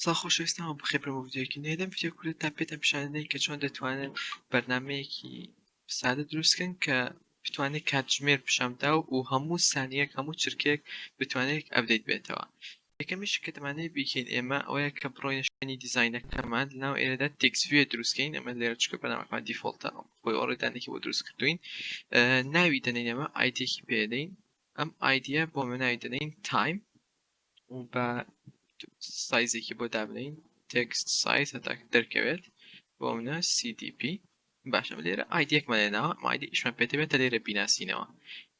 سڵاو خۆشەویستان وە بەخێر بێن بۆ ڤیدیۆیەکی نوێ لەم ڤیدیۆ کورتەدا پێتان پیشان دەدەین کە چۆن دەتوانن بەرنامەیەکی سادە دروست کەن کە بتوانێت کاتژمێر پیشان بدا و هەموو سانیەک هەموو چرکەیەک بتوانێت ئەپدەیت بێتەوە یەکەمیش کە دەمانەیە بیکەین ئێمە ئەوەیە کە بڕۆینە شوێنی دیزاینەکەمان لەناو ئێرەدا تێکست ڤیو دروستکەین ئەمە لێرە چکە بەرنامەکەمان دیفۆڵتە خۆی ئۆڕێدانێکی بۆ دروست کردوین ناوی دەنێین ئەمە ئایدێکی پێدەین ئەم ئایدیە بۆ مناوی دەنین تایم با سایزێکی بۆ دابنێین تێکست سایز هەتا دەرکەوێت بۆ منە CDP باشە لێرە ئایدێکمان لێناوە ئایدی ئیشمان پێدەبێتە لێرە بیناسینەوە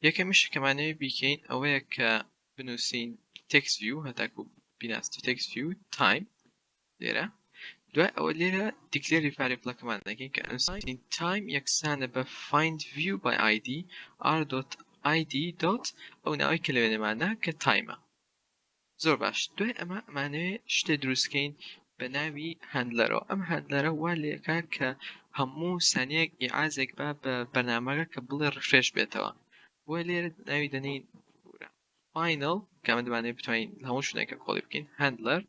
یەکەمیش کەمانەوە بیکەین ئەوەیە کە بنووسین تێکس ویو هەتاکو بیناست تێکس ویو تایم لێرە دوای ئەوە لێرە دیکلێری ڤاریبڵەکەمان دەکەین کە ئەنساین تایم یەکسانە بە فایند ڤیو بای ئایدی ئار دۆت ئایدی دۆت ئەو ناوەی کە لە وێنەماندا کە تایمە زۆر باش دوای ئەمە ئەمانەوێ شتێ دروستکەین بە ناوی هەندلەرەوە ئەم هەندلەرە وا لێکا کە هەموو سانیەک ئیعازێک با بە بەرنامەکە کە بڵێ ڕفرێش بێتەوە بۆ لێرە ناوی دەنین Final کە ئەمە دەمانەوێت بتوانین لە هەموو شوێنێکە کۆڵی بکەین Handler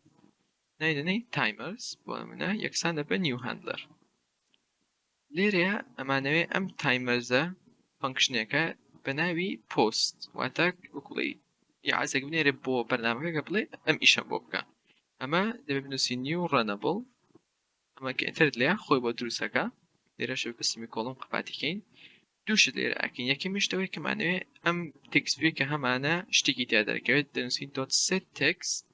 ناوی دەنێین Timers بۆ نمونە یەکسان دەبێت بە New Handler لێرەیە ئەمانەوێ ئەم تایمەرزە فەنکشنێکە بە ناوی پۆست واتە وکڵی یاعزێک بنێرێ بۆ بەرنمەکەگە بڵێ ئەم ئیشە بۆ بکە ئەمە دەبێت بنووسی نیو ڕەنەبڵ ئەمە کە ئێتر لێ خۆی بۆ دروستەکە لێرەش بسیمی کۆڵم قپاتیکەین دوو شت لێرە ئەکەین یەکەمی شت ئەوەی کە مانەوێ ئەم تێکست ڤیوی کە هەمانە شتێکی تیا دەرکەوێت دەنووسین دۆت سێت تێکست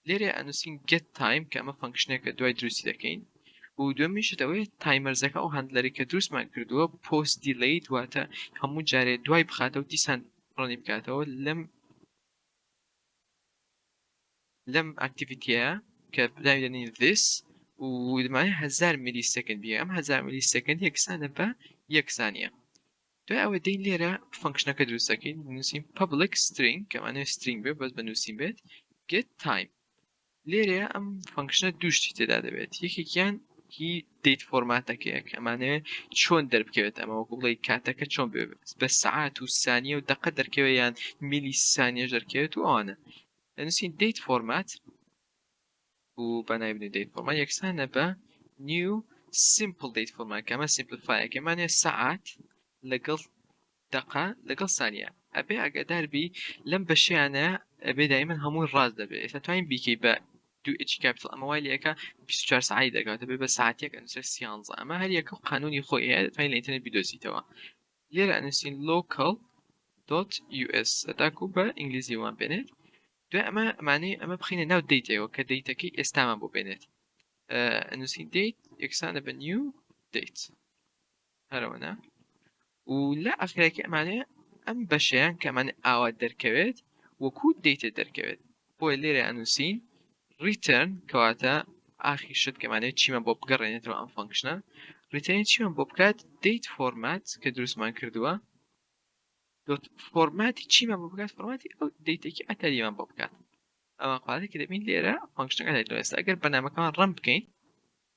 لێرە ئەنووسین گێت تایم کە ئەمە فەنکشنێکە دوای دروستی دەکەین و دووەمین شت ئەوەیە تایمەرزەکە ئەو هاندلەری کە دروستمان کردووە پۆست دیلەیت واتە هەموو جارێ دوای بخاتەوە دیسان ڕەنی بکاتەوە لەم لەم ئەکتیڤیتییە کە ناوی دەنێین this و دەمانەوێت هەزار میلی سێکەند بیێ ئەم هەزار میلی سێکەند یەکسانە بە یەک سانیە دوای ئەوە دێین لێرە فەنکشنەکە دروست دەکەین نووسین public string کە مانەوێت string بێت بەس بە نووسین بێت get time لێرەیا ئەم فەنکشنە دوو شتی تێدا دەبێت یەکێکیان هی دیت فۆرماتەکەیە کە ئەمانەوێت چۆن دەربکەوێت ئەمە وەکو بڵێ کاتەکە چۆن بێ بە سعات و سانیە و دەقە دەرکەوێت یان میلی سانیە دەرکەوێت و ئەوانە دەنووسین دیت فۆرمات و بەنای بنێ دیت فۆرمات یەکسانە بە نیو سیمپل دیت فۆرمات کە ئەمە سیمپلفایەکەمانێ سعات لەگەڵ دەقە لەگەڵ سانیە ئەبێ ئاگادار بی لەم بەشیانە ئەبێ دایمەن هەمووی ڕاست دەبێ ئێستا توانین بیکەی بە دوو ئێچی کاپیتڵ ئەمە وای لێکا بیست و چوار سەعاتی دەکا واتە بێ بە سەعات یەک ئەنووسرێ سیانزە ئەمە هەر یەکە و قانوونی خۆی هەیە دەتوانی لە ئینتەرنێت بیدۆزیتەوە لێرە ئەنووسین لۆکەڵ دۆت یو ئێس هەتاکوو بە ئینگلیزی وام بێنێت دوای ئەمە ئەمانەی ئەمە بخینە ناو دەیتەوە کە دەیتەکەی ئێستامان بۆ بێنێت ئەنووسین دەیت یەکسانە بە نیو دەیت هەرەوەنا و لە ئاخرایەکی ئەمانەیە ئەم بەشەیان کە ئەمانە ئاوا دەرکەوێت وەکو دەیتە دەرکەوێت بۆیە لێرە ئەنووسین ریترن کەواتە ئاخی شت کەمانێت چیمە بۆ بگەڕێنێتەوە ئەم فەنکشنە ریتێنی چیمە بۆ بکات دەیت فۆرمات کە دروستمان کردووە فۆرماتی چیمان بۆ بکات فۆرماتی ئەو دەیتێکی ئەتەریمان بۆ بکات ئەوە قاتی کە دەبین لێرە فەنکشنەکە دەێت لەێستا ئەگەر بەنامەکەمان ڕم بکەین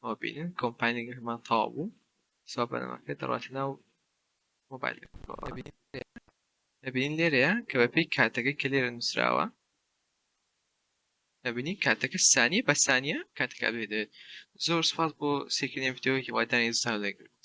ئەوە بینن کۆمپاینینگەکەمان تەواو بوو سا بەرنامەکە دەڕاتە ناو مۆبایلەکە ئەبینین لێرەیە کە بەپێی کاتەکەی کە لێرە نووسراوە ئەبینین کاتەکە سانیە بە سانیە کاتەکە بێدێت زۆر سپاس بۆ سێکردنی ڤیدیۆیەکی وادانی زستان لێگر